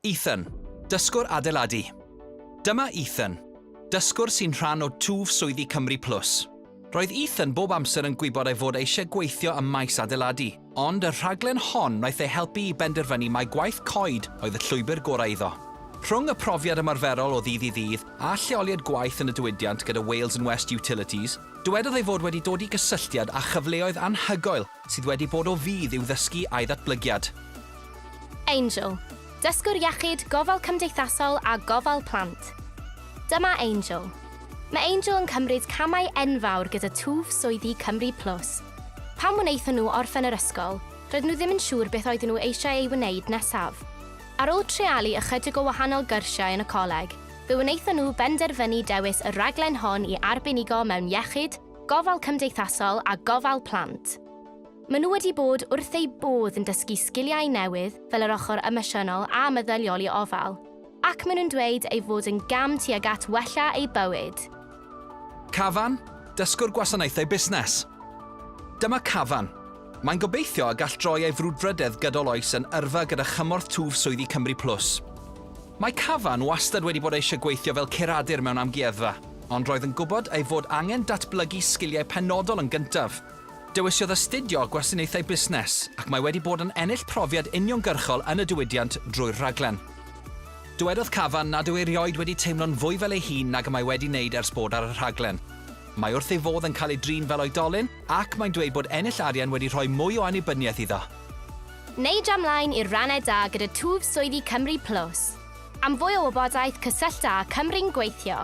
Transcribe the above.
Ethan, dysgwr adeiladu. Dyma Ethan, dysgwr sy'n rhan o twf swyddi Cymru Plus. Roedd Ethan bob amser yn gwybod ei fod eisiau gweithio ym maes adeiladu, ond y rhaglen hon wnaeth ei helpu i benderfynu mai gwaith coed oedd y llwybr gorau iddo. Rhwng y profiad ymarferol o ddydd i ddydd a lleoliad gwaith yn y diwydiant gyda Wales and West Utilities, dywedodd ei fod wedi dod i gysylltiad â chyfleoedd anhygoel sydd wedi bod o fudd i'w ddysgu a'i ddatblygiad. Angel, dysgwr iechyd, gofal cymdeithasol a gofal plant. Dyma Angel. Mae Angel yn cymryd camau enfawr gyda twf swyddi Cymru Plus. Pan wnaethon nhw orffen yr ysgol, roedden nhw ddim yn siŵr beth oedden nhw eisiau ei wneud nesaf. Ar ôl treialu ychydig o wahanol gyrsiau yn y coleg, fe wnaethon nhw benderfynu dewis y rhaglen hon i arbenigo mewn iechyd, Gofal Cymdeithasol a Gofal Plant. Maen nhw wedi bod wrth eu bodd yn dysgu sgiliau newydd fel yr ochr emosiynol a meddyliol i ofal, ac maen nhw'n dweud ei fod yn gam tuag at wella eu bywyd. Cafan, Dysgwr Gwasanaethau Busnes. Dyma Cafan. Mae'n gobeithio y gall droi ei frwdfrydedd gydol oes yn yrfa gyda chymorth twf swyddi Cymru Plus. Mae Cavan wastad wedi bod eisiau gweithio fel curadur mewn amgueddfa, ond roedd yn gwybod ei fod angen datblygu sgiliau penodol yn gyntaf. Dewisiodd astudio Gwasanaethau Busnes, ac mae wedi bod yn ennill profiad uniongyrchol yn y diwydiant drwy'r rhaglen. Dywedodd Cavan nad yw erioed wedi teimlo'n fwy fel ei hun nag y mae wedi wneud ers bod ar y rhaglen. Mae wrth ei fodd yn cael ei drin fel oedolyn, ac mae'n dweud bod ennill arian wedi rhoi mwy o annibyniaeth iddo. Neu dra mlaen i'r rannau da gyda twf swyddi Cymru Plus. Am fwy o wybodaeth cysyllta â Cymru'n Gweithio.